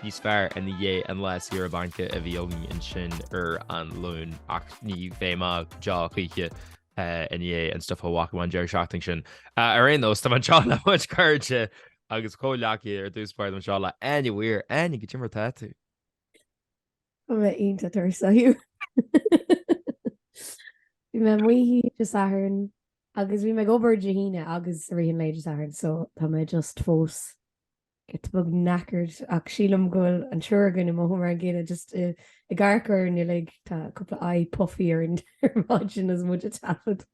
níos fearr ina dhiaidh an lá saoire bainc a bhí againn ansin ar an Luan ach ní bheidh mé deá choíche ina dhiaidh an stuif a bhí agam an deireadh seachtaine sin. Ar aon nós, tá mé anseo le mo chuid cairde agus comhghleacaithe ar dtús báire anseo le Áine Weir. Áine, cad é mar atá tú? Tá mé iontach tuirseach Hugh. Bhí mé amuigh Dé Sathairn agus bhí mé ag obair Dé hAoine agus i rith an lae Dé Sathairn so tá mé just fós giota beag knackered ach sílim go bhfuil an triúr againn inniu mar an gcéanna just ag amharc orainn uilig tá cúpla aghaidh puffy orainn ar maidin is muid ag taifead.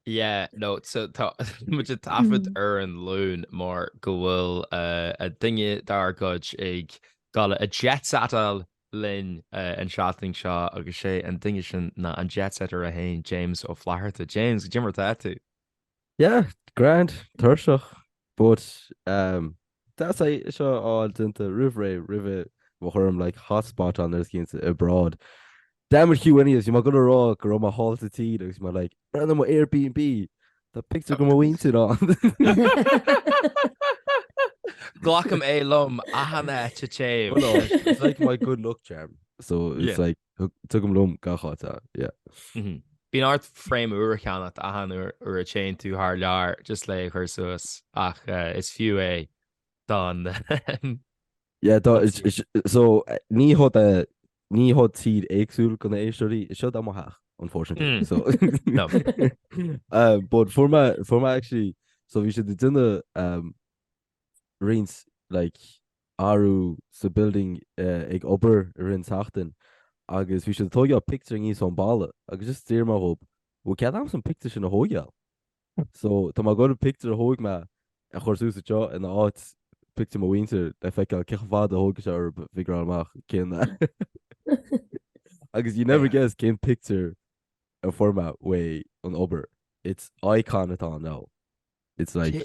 Yeah no so tá muid ag taifead ar an luan mar go bhfuil a duine dár gcuid ag gabháil a jet setáil linn an seachtain seo agus sé an duine sin ná an jet setter a haon James Ó Flatharta. James cad é mar atá tú? Yeah, grand, tuirseach, but um, that's I seo all déanta roimh ré roimhe mo chuirim like hot spot on agus cinnte abroad. Damn it Hugh anyways, bhí mé ag goil a rá go raibh mé thall sa tír agus mé like random Airbnb tá pictiúr go mo mhuintir ann. Glacaim é liom achan áit a dtéim. Well no, it's like my good luck charm. So it's Yeah. like Tugaim liom gach áit é, yeah. Bíonn ort frame úr a cheannacht achan uair a téann tú thar lear just le é a chur suas ach is fiú é don Yeah do is so ní ho de ní ho tír éagsúil go na héisteoirí is seod é mo theach unfortunately so no but for my for my actually so bhí siad ag déanamh um roinnt like athrú sa building ag obair i rith an tseachtain agus bhí siad ag tóigeáil pictiúir aníos ón balla agus just d'fhiafraigh mé dhóib bhfuil cead a'msa an pictiúr sin a thóigeáil? so tá mé ag goil an pictiúr a thóig mé a chur suas anseo ina áit pictiúr mo mhuintir le feiceáil cé chomh fada a thóigfeadh sé orthub figureáil amach cén agus you'll never guess cén pictiúr a fuair mé uaidh an obair it's icon atá ann now it's like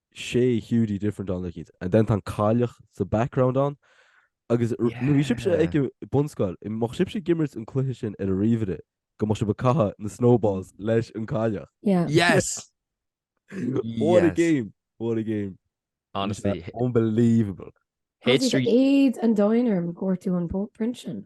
sé Hiúdaí different ann le kids and then tá an cailleach sa background ann agus nuair a bhí sibhse Yeah. ag bunscoil, an mbíodh sibhse ag imirt an cluiche sin ar an ríomhaire go mbíodh sibh ag caitheamh na snowballs leis an cailleach. Yeah. Yes! What a Yes. game! What a game! Honestly. Unbelievable. Éad an domhain orm go bhfuair tú an print sin.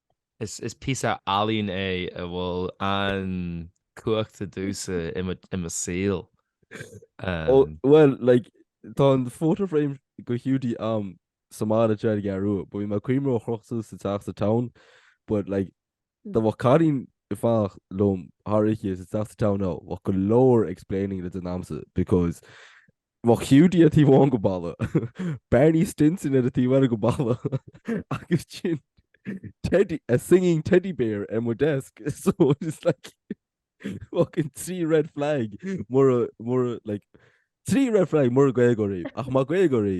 Is píosa ealaín é a bhfuil an-chumhachtach domhsa i mo shaol. Bhuel, like, tá an photo frame go Hiúdaí a'm sa mbaile try to get rid of it, but bhí mé ag cuimhneamh ar é a chrochadh suas sa teach sa town but like dá mbeadh cailín ag fanacht liom thar oíche sa teach sa town now bheadh go leor explaining le déanamh a'msa because Mo Hiúdaí ar taobh amháin go balla, Barney Stinson ar an taobh eile go balla agus ansin Teddy, a singing teddy bear ar mo desk so it is like fucking trí red flag mura, mura, like trí red flag mura Gaeilgeoir í ach más Gaeilgeoir í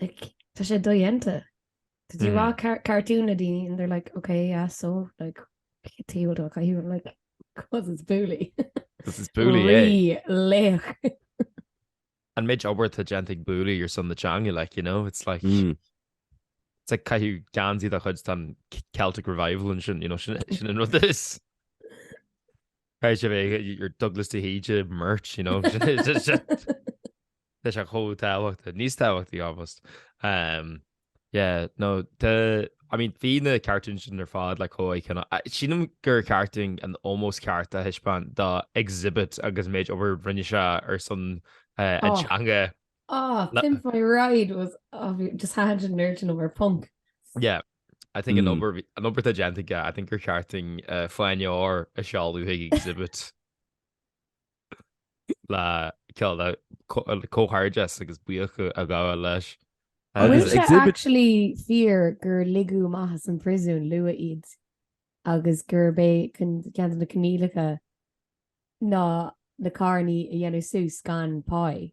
like tá sé dodhéanta. Did you watch car cartoon na daoine and they're like, okay, yeah, so, like, tuige a bhfuil tú ag caitheamh, I'm like, cos it's Bouli. Cos it's Bouli, eh? Rí laoch. An méid obair tá déanta ag Bouli ar son na teanga, like, you know, it's like, mm. it's like caitheamh geansaí de chuid an Celtic Revival and sin, you know, sin, sin an rud is. Caithfidh sé bheith, your Douglas de Híde merch, you know, leis an chomh tábhachtach, níos tábhachtaí almost, ehm, yeah, no, tá, I mean, bhí na cartoons sin ar fad le coimhéad cheana. Ah, Sílim gur ceart dúinn an ómós ceart a thaispeáint do Xzibit agus an méid obair a rinne sé ar son eh, an Oh. teanga. Ah, Na- Pimp My Ride was obvious. Just had a nerd an over punk. Yeah, I think an Mm. obair bhí- an obair tá déanta aige, I think gur ceart dúinn uh, fáinne óir a sheoladh chuig Xzibit. le ceol le comhghairdeas agus buíoch a ghabháil leis. An bhfuil sé actually fíor gur ligeadh amach as an priosún luath iad agus gurb é ceann de na coinníollacha ná na carrannaí a dhéanamh suas gan páí?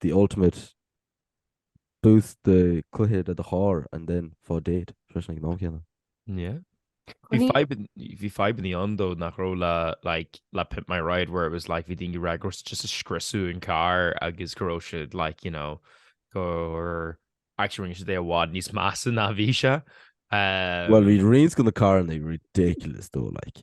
the ultimate boost do cluiche de do charr and then fáil date freisin ag an am céanna. Yeah. Bhí fadhb bhí fadhb in the end though nach raibh le like le Pimp My Ride where it was like bhí daoine ag rá just ag scriosadh an carr agus go raibh siad like you know gur actually rinne siad é i bhfad níos measa ná bhí sé. Bhuel bhí roinnt de na carranna ridiculous though like.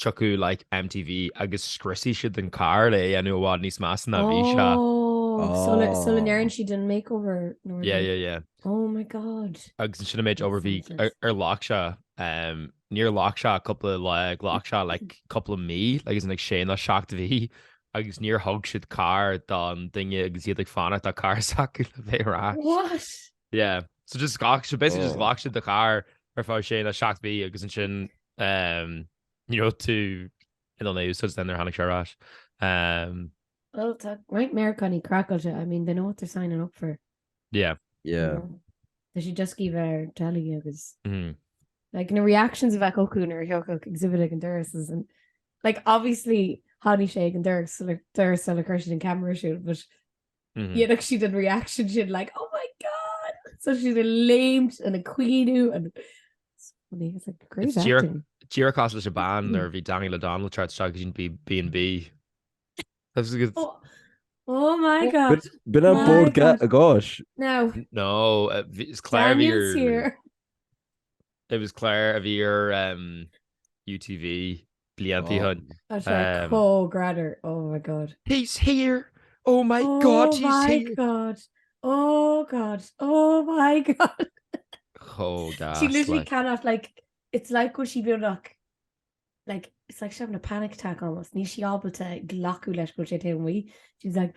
Tiocfaidh like MTV agus scriosfaidh siad an carr le é a dhéanamh i bhfad níos measa ná a bhí sé. Ó, sula, sula Oh. ndéanann siad an makeover nó rud Yeah, yeah, éigin. yeah. Oh my god. Agus ansin an méid Makes obair bhí sense. ar ar ghlac sé, em, níor ghlac sé cúpla lá, ghlac sé like cúpla mí agus like sé nó seacht mhí agus níor thug siad carr don duine agus iad ag fanacht ar carr s'acu le bheith ar ais. What? Yeah. So just ghlac so basically just Oh. ghlac siad do charr ar feadh sé nó 7 mí agus ansin um, you know, tú in ann é a úsáid nuair a tháinig sé ar ais. Um, Well, tá roinnt Meiriceánaí craiceáilte. I mean, they know what they're signing up for. yeah. you Yeah. know. Tá siad just ag iarraidh bheith ar telly agus... Mm. Like, na reactions a bheadh acu nuair a thiocfadh Xzibit ag an doras is an... Like, obviously, tháinig sé ag an doras le doras le chuir siad an camera siúd, but dhéanfadh siad an reaction sin like oh my god! So siad ag léimt and ag caoineadh and Díreach cosúil leis an bean mm. nuair a bhí Daniel O'Donnell tart se go sin B&B. Oh my god. B'in an Bord Gáis? No. No, is cléir It was Claire a bhí ar em UTV blianta ó shin. Tá sé Em. chomh greannmhar, oh my god. He's here! Oh my oh god, he's my here! god, oh god, oh my god. Chomh gas, She literally like. cannot like, it's like go sí beagnach like, it's like she's having a panic attack almost, níl sí ábalta glacadh leis go sé taobh amuigh. She's like,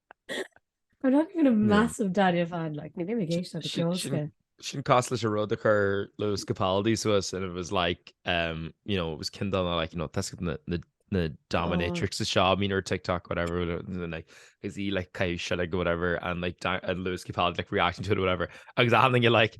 I'm not even a massive Daniel fan like na bhí géis na ceolske. Sin cos leis a rud a chur Lewis Capaldi suas and it was like um, you know, it was kin on like you know, that's na, na, na dominatrix oh. a shop mean or TikTok whatever and like is he like kai shit like whatever and like and Lewis Capaldi like reacting to it or whatever. Agus I think you're like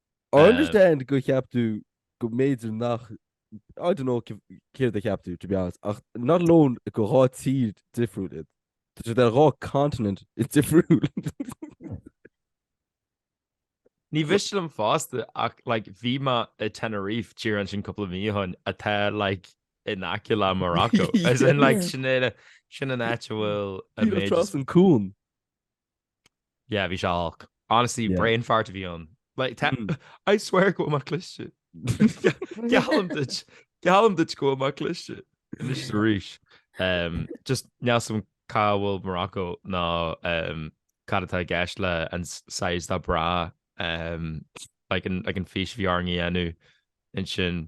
I understand go cheap tú go mb'fhéidir nach, I don't know céard a cheap tú, to be honest, ach not alone gur dhá thír difriúil iad, tá siad ar dhá continent difriúil. Ní mhiste liom fosta ach like bhí mé i Tenerife thiar ansin cúpla mí ó shoin atá like in aice le Morocco, as in like sin é sin an áit a bhfuil a méid is. Trasna an cuan. Yeah bhí sé olc. Honestly Yeah. brain fart a bhí ann. Like tá Mm. I swear go bhfuil mé cliste. Geallaim duit. Geallaim duit go bhfuil mé cliste. Anois is arís. Um, just níl a fhios agam cá bhfuil Morocco ná um, cad atá i gceist le an s- size de bra. Um, like an, like an fís a bhí orainn a dhéanamh ansin.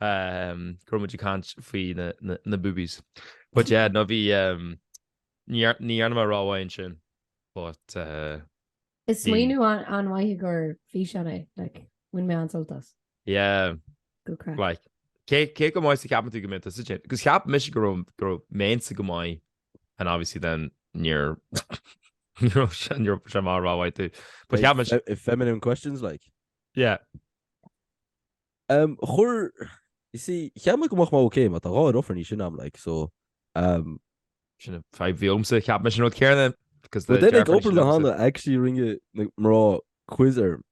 Umm go raibh muid ag caint faoi na boobies but yeah no bhí umm ní dhearna mé rómhaith ansin but eh Is smaoineamh an-mhaith do físeán é like bhain mé an-sult as. Yeah Good craic like cé go maith is a cheapann tú go mbeadh tusa ann agus cheap mise go mbeinnse go maith and obviously then níor raibh sé ní raibh mé rómhaith tú but cheap mise Feminine questions like? yeah. Umm chuir you see cheap mé go mbeadh mé ok mar tá dhá dheirfiúr níos sine agam like so umm. Sin an fadhb a bhí agamsa cheap mise an rud céanna because tá deirfiúr níos sine agamsa. Well then ag obair lá amháin actually rinne na mná quiz orm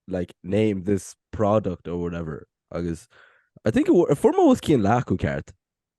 like name this product or whatever agus I think go bhfuair mé os cionn leath go ceart.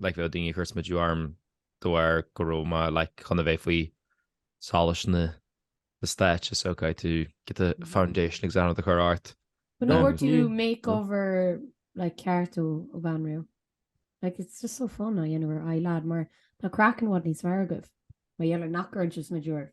like bheadh daoine ag cur smidiú orm de bharr go raibh mé like chun a bheith faoi solas na na stáitse ok to get a foundation ag déanamh do chur ort. But no do makeover like ceart ó ó bhanríon. Like it's just so fun á dhéanamh ar aghaidh lead mar tá craiceann i bhfad níos fearr agaibh. Mar gheall ar nach gcuireann sibh smidiú oraibh.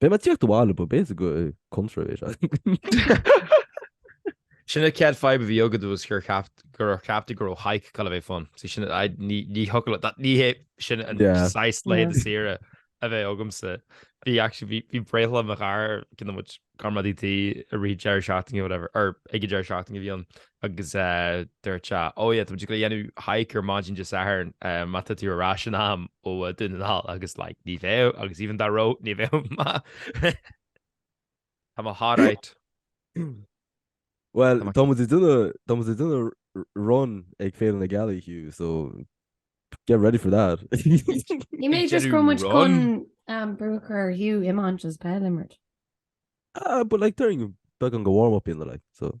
Beidh mé ag tíocht abhaile but basically contra é seo. Sin an chéad fadhb a bhí agat was gur cheap tú go raibh hike ag goil a bheith fun. So sin ní thiocfadh le that. Ní hé sin an saghas laethanta saoire a bheadh agamsa. Bhí actually, bhí breithlá mo chara, ceann de mo chuid comrádaí tí i rith deireadh seachtaine or whatever, or ag an deireadh seachtaine a bhí ann. Agus dúirt sé, Ó, yeah, tá muid ag dul a dhéanamh hike ar maidin Dé Sathairn, má tá tú ar ais in am ó Dún na nGall. Agus like, ní bheadh, agus even dá raibh, ní bheadh. Tá mo heart out. Bhuel, tá muid ag déanamh run ag Féile na Gealaí, Hugh, so get ready for that. Ní mé just go muid chun brú a chur ar Hugh iomáint is peil a imirt. Ah, but like déarfainn beagán de warm up in the like, so.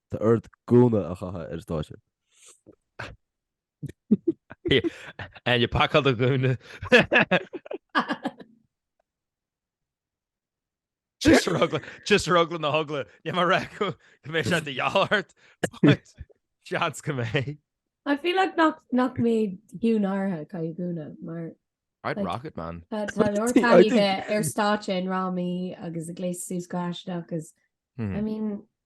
Tá ort gúna a chaitheamh ar an stáitse. Áine, pacáil do gúna. Just ar eagla, just ar eagla na heagla, níl mé ag rá go mbeidh sé de dhíobháil ort. Seans go mbeidh. I feel like nach, nach mbeidh Hugh náirithe ag caitheamh gúna, mar. I'd rock it, man. tá, tá go leor Bhí- I taithí think- bheith ar stáitse i ndrámaí agus ag gléasadh suas go haisteach agus, I mean,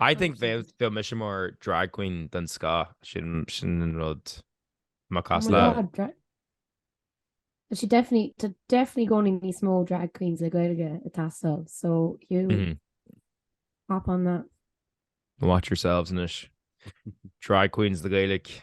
I think bheadh bheadh mise mar drag queen den scoth sin sin an rud má Oh cás my le god, dra- Is sé definitely, tá definitely i gcónaí níos mó drag queens le Gaeilge ag teastáil, so you Mhm. hop on that. Watch yourselves anois. Drag queens na Gaeilge.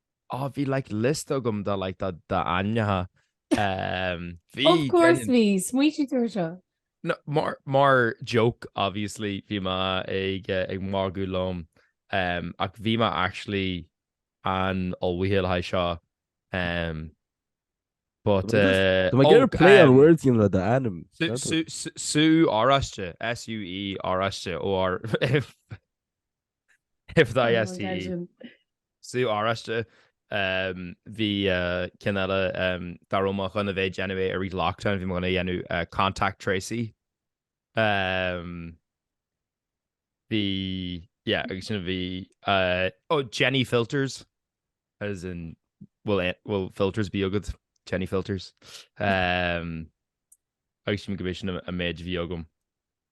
Ó bhí like list agam de like d'ainmneacha ehm bhí Of course bhí, smaoitigh tú ar seo? No mar mar joke obviously bhí mé ag ag magadh liom ehm ach bhí mé actually an-ullmhaithe le haghaidh seo ehm but eh Tá mé ag oh iarraidh play on ehm words a dhéanamh le d'ainm. Sú sú sú sú oráiste SUE oráiste OR A fada I An bhfuil STE. deilbh. Sú oráiste ehm bhí eh ceann eile ehm dá raibh mé chun a bheith ag déanamh é i rith lockdown bhí mé ag dul a dhéanamh eh contact Tracy ehm bhí yeah agus ansin bhí eh oh Jenny filters as in bhfuil eh bhfuil filters ar bith agat Jenny filters ehm agus sílim go mb'é sin an méid a bhí agam.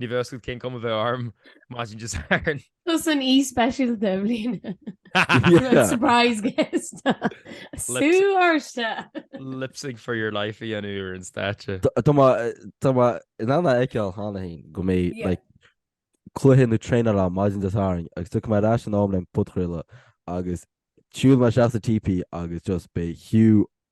Ní bheadh a fhios agat cén cuma a bheadh orm imagine just ar. Tá an aoi speisialta i mbliana. Surprise guest! Sú oráiste! Lip sync for your life a dhéanamh ar an stáitse. Tá mé in ann a fheiceáil cheana féin go mbeidh like cluiche nó traenáil ann maidin Dé Sathairn agus tiocfaidh mé ar ais in am le haghaidh an podchraoladh agus siúlfaidh mé isteach sa teepee agus just beidh Hugh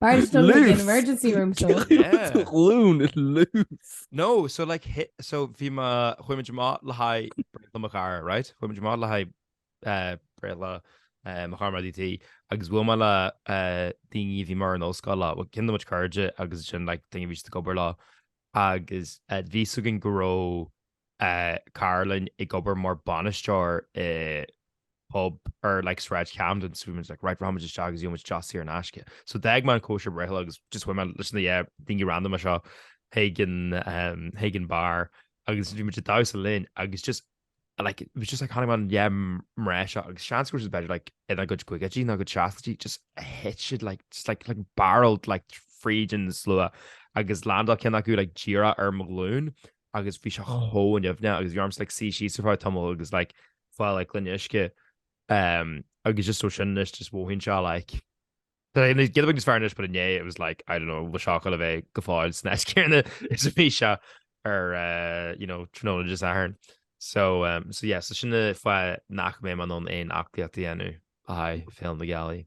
Tar éis dul chuig an emergency room so. Yeah. Glúin is loose. No, so like hi- so bhí mé, chuaigh muid amach le haghaidh breithlá mo chara, right? Chuaigh muid amach le haghaidh eh, breithlá eh, mo chara mar DT agus bhuail mé le eh, daoine a bhí mé ar an ollscoil leo, well, kinda mo chuid cairde agus ansin like daoine a bhí siad ag obair leo agus eh, bhí a fhios againn go raibh Caroline ag obair mar bhainisteoir i bpub ar like Sráid Camden so bhí muid like right rachaimid isteach agus gheobhaimid deoch saor in aisce. So d'fhág mé an cóisir breithlá agus just chuaigh mé leis na yeah daoine randoma seo chuig an ehm chuig an bar agus bhí muid ag damhsa linn agus just like it was just like tháinig na yeah mná seo agus seans go raibh siad b'fhéidir like ina gcuid caogaidí nó ina gcuid seascaidí just thit siad like just like like barreled like fríd an slua agus landáil ceann acu like díreach ar mo ghlún agus bhí sé chomh nimhneach agus bhí orm like suí síos ar feadh tamall agus like fáil like gloine uisce um, agus just so sin anois just mothaíonn sé like giota beag níos fearr anois, but inné, it was like, I don't know, bhí sé ag gabháil a bheith go fóill san áit chéarna is a bhí sé ar, uh, you know, tráthnóna Dé Sathairn. So, um, so yeah, so sin an fáth nach mbeidh mé in ann aon aclaíocht a dhéanamh le haghaidh Féile na Gealaí.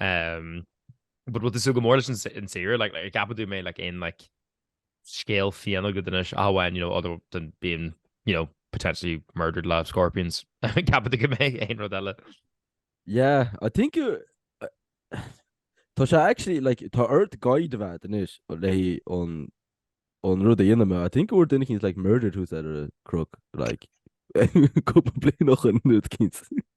Umm but bhfuil tú ag súil go mór leis an saoire? Like like ceapann tú go mbeidh like aon like scéal fiáin agat anois ach amháin you know other than being you know potentially murdered live scorpions ceapann tú go mbeidh aon rud eile? Yeah I think tá sé actually like tá ort guide a bheith agat anois leis an an rud a dhéanamh mar. I think go bhfuair duine éicint like murdered thuas ar an gcnoc like cúpla bliain ó shoin rud éicint.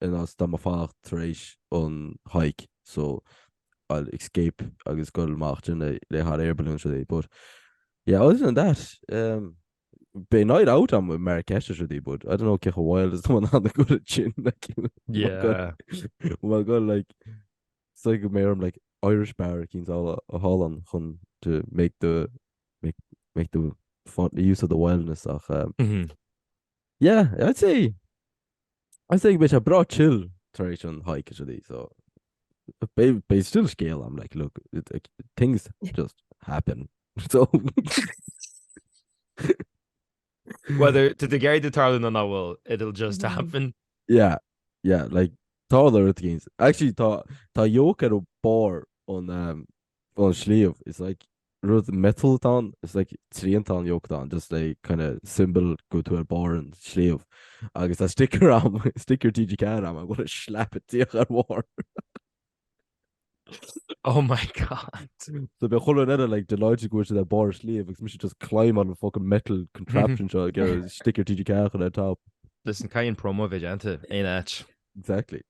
in as dá mba fánach tar éis an hike so I'll escape agus goil amach den le le hot air balloons rudaí but yeah other than that um, Bé night out am mar ceiste rudaí bud I don't know cecha bhil is an an go sin yeah well go like so go mé am like Irish bar cín ála a hálan chun to make the make make the fun the use of the wildness ach um, mm -hmm. yeah I'd say Is é beidh sé breá chill tar éis an hike is rudaí so beidh still scéal a'm like look things just happen so Whether tá tú ag iarraidh go dtarlaíonn nó nach bhfuil it'll just mm-hmm. happen. Yeah, yeah, like tarlaíonn things. Actually tá tá yoke ar barr an um, An sliabh is like rud metal atá ann is like triantán yoke atá ann just a kind of symbol go bhfuil tú ar barr an sliabh agus tá sticker a'm sticker TG Ceathair a'm I'm gonna slap it díreach ar a bharr. Oh my God. So beidh chuile dhuine eile like delighted go bhfuil siad ar barr an sliabh agus mise just climbáil an fucking metal contraption seo ag iarraidh sticker TG Ceathair a chur ar top. Listen caithfidh an promo a bheith déanta aon áit. Exactly.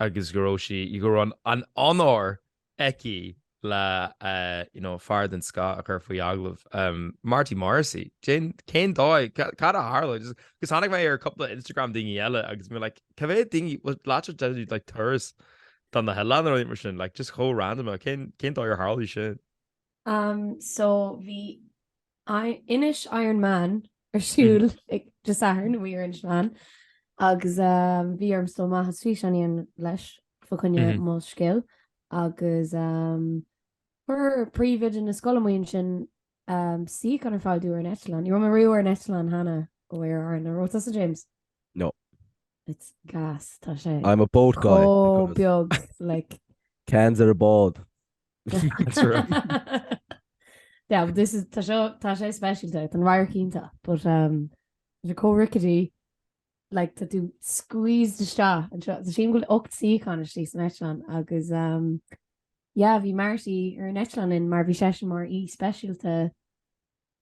agus go raibh sí, go raibh an onóir aici le you know fear den scoth a chur faoi agallamh, Marty Morrissey. Cén, cén dóigh, cad a tharla? Agus agus tháinig mé ar cúpla Instagram daoine eile agus mé like cá mhéad daoine a bhí i láthair deir tú like turas do na hoileáin nó rud mar sin like just chomh random, cén, cén dóigh ar tharla sin? Am, so bhí, Inis Iron Meáin ar siúl Dé Sathairn amuigh ar Inis Meáin agus bhí orm dul amach is físeán a dhéanamh leis fá choinne Molscéal agus chuir príomhoide na scoile amuigh ansin suíochán ar fáil domh ar an eitleán. Ní raibh mé riamh ar an eitleán cheana ó Aer Arann an raibh tusa James? No. It's gas tá sé. I'm a boat guy. Chomh beag like. Cans ar an mbád. That's right. Yeah, but this is, tá seo, tá sé speisialta, tá an radharc iontach, but um, tá sé chomh rickety, like tá tú squeezed isteach ann. Sílim go bhfuil 8 suíochán istigh san eitleán agus um, yeah, bhí Marty ar an eitleán linn mar bhí seisean mar aoi speisialta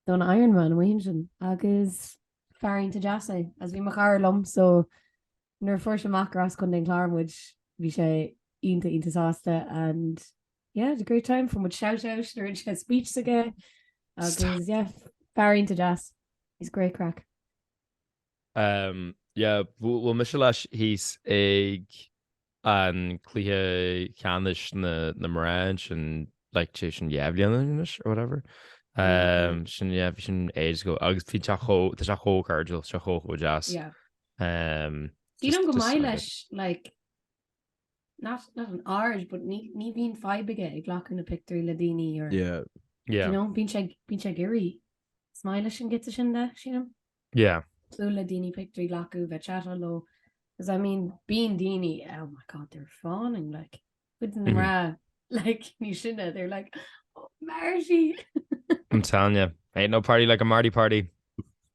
don Ironman amuigh ansin agus fear iontach deas é, agus bhí mo chara liom so nuair a fuair sé amach gur as Contae an Chláir muid bhí sé iontach iontach sásta and yeah had a great time fuair muid shout out nuair a rinne sé speech s'aige agus yeah fear iontach deas. He's great craic. Um yeah bhuail mise leis thíos ag an gcluiche ceannais na na mná ansin like sé sin dhá bhliain anois or whatever. Um sin yeah bhí sin age ago agus bhí sé tá sé chomh cairdiúil tá sé chomh deas. Yeah. Sílim gur maith leis like not not an aird but ní ní bhíonn fadhb aige ag glacadh na pictiúirí le daoine or yeah yeah you know bíonn sé bíonn sé ag iarraidh is maith leis an giota sin de sílim yeah siúl le daoine pictiúirí a ghlacadh bheith ag chatáil leo 'cause I mean bíonn daoine oh my god they're fawning like Cuid na mná, like, níl sinne, they're like, oh, Marty! I'm telling you, ain't no party like a Marty party.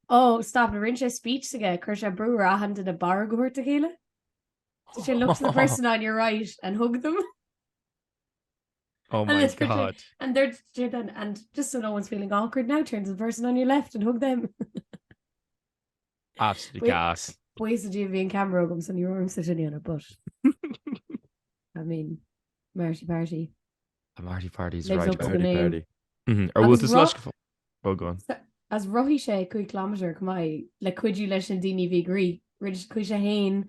Oh, stop, rinne sé speech s'aige, chuir sé brú raithin de na barr go thabhairt a chéile. Did she look to the person on your right and hug them? Oh my and god. It, and they're then and just so no one's feeling awkward now, turn to the person on your left and hug them. Absolutely gas. Buíochas le Dia bhí an ceamara agam so ní raibh ormsa sin a dhéanamh but I mean, Marty Party. A Marty Party's Lives right. up to the Party, name. party. Mhm. Ar bhfuil Agus tú ro- slaisce fá- Oh, go on. Is rothaigh sé 5 km chomh maith le cuidiú leis na daoine a bhí ag rith, rinne- chuaigh sé fhéin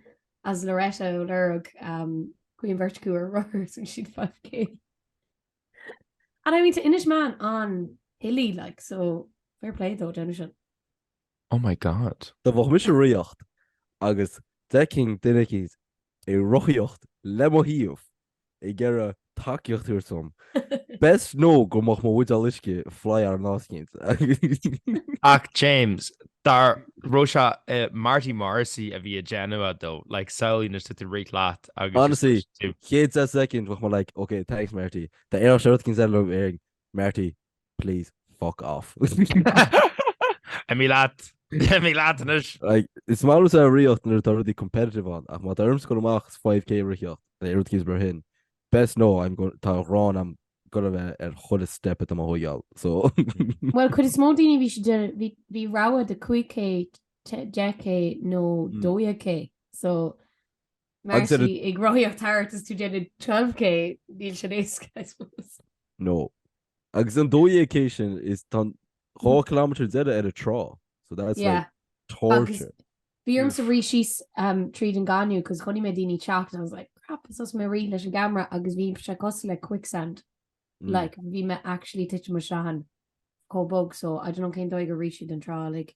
is Loretta ó lorg um, Queen Vertigo ar rothar is rinne siad 5k. And I mean tá Inis Meáin an-hilly like so fair play dó déanamh sin. Oh my God. Dá mbeadh mise ag ritheacht agus d'fheicfinn duine eicínt ag rothaíocht le mo thaobh ag iarraidh tacaíocht a thabhairt dom. Best know go mbeadh mo bhuideál uisce ag flyáil in áit eicínt. Ach James, dar, raibh sé i Marty Morrissey a bhí á dhéanamh though, like samhlaigh nuair tá tú ag rith leat agus just Honestly, dúirt tú. chéad deich soicind bheadh mé like, okay, thanks Marty. Tar éis seo rud eicínt sílim déarfainn Marty. Please fuck off. Imigh leat! Imigh leat anois! Like, is maith liomsa ritheacht nuair atá rudaí competitive ann ach má tá orm ghoil amach is 5K a ritheacht nó rud eicínt mar sin, best know, I'm going, tá an ghráin a'm go raibh mé ar chuile step atá mé a thóigeáil, so. Bhuel, cuid is mó daoine bhí siad, bhí, bhí rogha de 5K, 10K nó 12K, so Agus Marty ag rothaíocht thart is tú ag déanamh 12K, níl sin éasca I suppose. No. Agus an 12K sin is tá an 2 kilometre deiridh ar an trá so that's like Yeah. torture. Agus bhí ormsa rith síos tríd an gaineamh 'cause chonaic mé daoine ag teacht and I was like crap is thosaigh mé ag rith leis an gcamera agus bhí sé cosúil le quicksand Mm. like bhí mé actually ag titim isteach ann chomh bog so I don't know cén dóigh a rith siad an trá like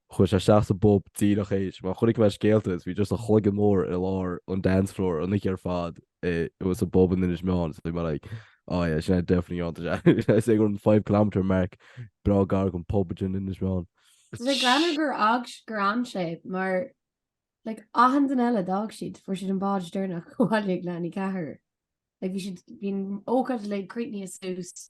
Chuaidh sé isteach sa bpub díreach théis mar chonaic mé scéalta is bhí just a chloigeann mór i lár an dance floor an oíche ar fad i it was sa bpub in Inis Meáin so bhí mé like oh yeah sin é definitely an tá sé ag sé gur an five kilometre mark breá gar gon pub in Inis Meáin. Ba ghreannmhar gur fhág gur fhan sé mar like achan duine eile d'fhág siad fuair siad an bád deireanach abhaile ag leath i ndiaidh a ceathair like bhí siad bhí an ócáid like críochnaithe suas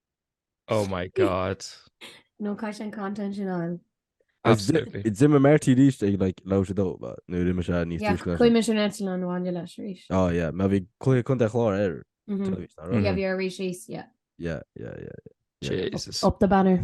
Oh my god. No cai sin content sin an. Absolutely. Is dim Marty aríst like lá sé dó nu ri me se ní chuime sin an an bhaint leis arís. Á me bhí chuir Contae an Chláir ar bhí rí síos, yeah. Yeah, yeah, yeah. yeah. Jesus. Up the banner.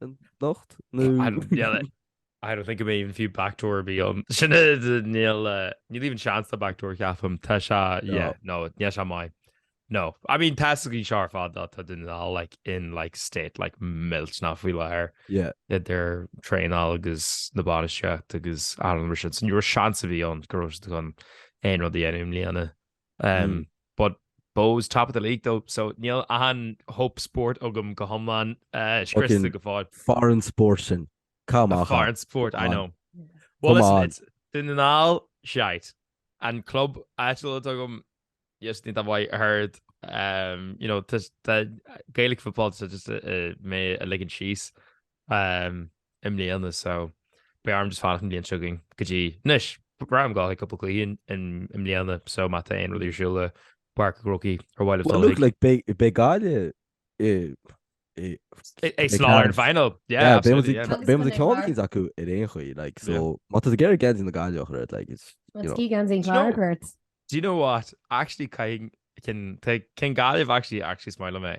An locht nó. I don't get it. I don't think I'm even fiú backdoor a bheith ann. Sin é níl níl even seans do backdoor ceapaim. Tá sé yeah no níl sé maith. No. I mean tá sa gcaoi seo ar fad dá tá Dún na nGall like in like state like millteanach faoi láthair. Yeah. Idir traenáil agus na bainistíocht agus achan rud mar sin. So ní raibh seans ar bith ann go raibh siad chun aon rud a dhéanamh i mbliana. But Bohs top of the league though so níl achan hope sport agam go hiomlán scriosta go fóill. Foreign sport sin. Caith amach ann. Foreign sport, I know. Well listen, it's Dún na nGall, shite. An club áitiúil atá agam, yes, ní dá mhaith a third. You know, tá Gaelic football, tá just mé a ligean síos. i mbliana so beidh orm just fanacht an bhliain seo chugainn go dtí anois. Ba bhreá liom gabháil chuig cúpla cluichí i mbliana so má tá aon rud ar siúl i bPáirc an Chrócaigh ar mhaith libh dul chuig. Well look beidh Gaillimh is an Clár sa final. Yeah absolutely yeah. Beidh muid ag ceann eicínt acu ar aon chaoi like so má tá tú ag iarraidh geansaí na Gaillimhe a chur ort like it's you know. Tá sí geansaí an Chláir a chur ort. Do you know what actually caithfidh ceann Gaillimh actually actually is maith liom é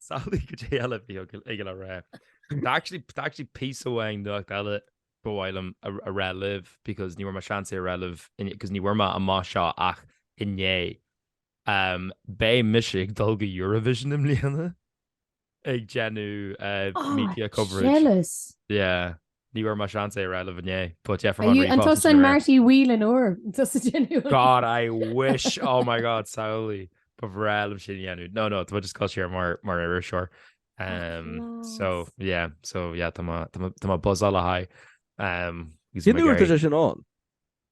Samhlaigh goidé eile a bhí aige le rá. Tá actually piece amháin nuacht eile ba mhaith liom a rá libh because ní bhfuair mé seans é a rá libh because ní bhfuair mé amach seo ach inné. Beidh mise ag dul go Eurovision i mbliana ag déanamh media coverage. Jealous! Yeah. Ní bhfuair mé seans é a rá libh inné but yeah from Are you, an tusa an Marty Whelan or tusa ag déanamh an. God I wish oh my God samhlaigh ba bhreá liom sin a dhéanamh no no tá mé just ag goil soir mar mar iriseoir um so yeah so yeah tá mé tá mé tá mé ag buzzáil lena haghaidh um Cén uair tá sé sin ann?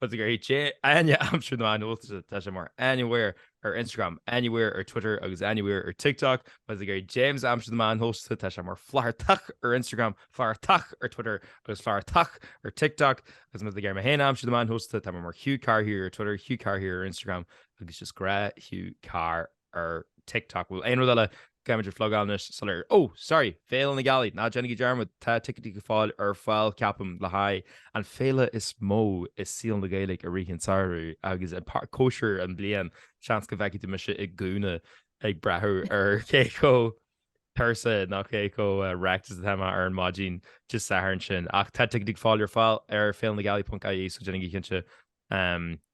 Má tá tú ag iarraidh Áine a aimsiú ar na meáin shóisialta, tá sí mar anywhere ar Instagram, anywhere ar Twitter agus anywhere ar TikTok. Má tá tú ag iarraidh James a aimsiú ar na meáin shóisialta, tá sé mar flathartach ar Instagram, flathartach ar Twitter agus flathartach ar TikTok. Agus má tá tú ag iarraidh mé féin a aimsiú ar na meáin shóisialta, tá mé mar Hugh Carr here ar Twitter, Hugh Carr here ar Instagram agus just gnáth Hugh Carr. ar TikTok. Bhfuil aon rud eile caithfimid a phlugáil anois sula. Ó! Sorry! Féile na Gealaí! Ná déanaigí dearmad, tá ticéidí go fóill ar fáil, ceapaim, le haghaidh an féile is mó i saol na Gaeilge a rithim, sárú agus, an páirtí, cóisir na bliana. Seans go bhfeicfidh tú mise i gcúinne ag breathnú ar cé chomh tuirseach nó cé chomh wrecked is atá mé ar an maidin Dé Sathairn sin. Ach tá ticéidí go fóill ar fáil ar féilenagealaí.ie so déanaigí cinnte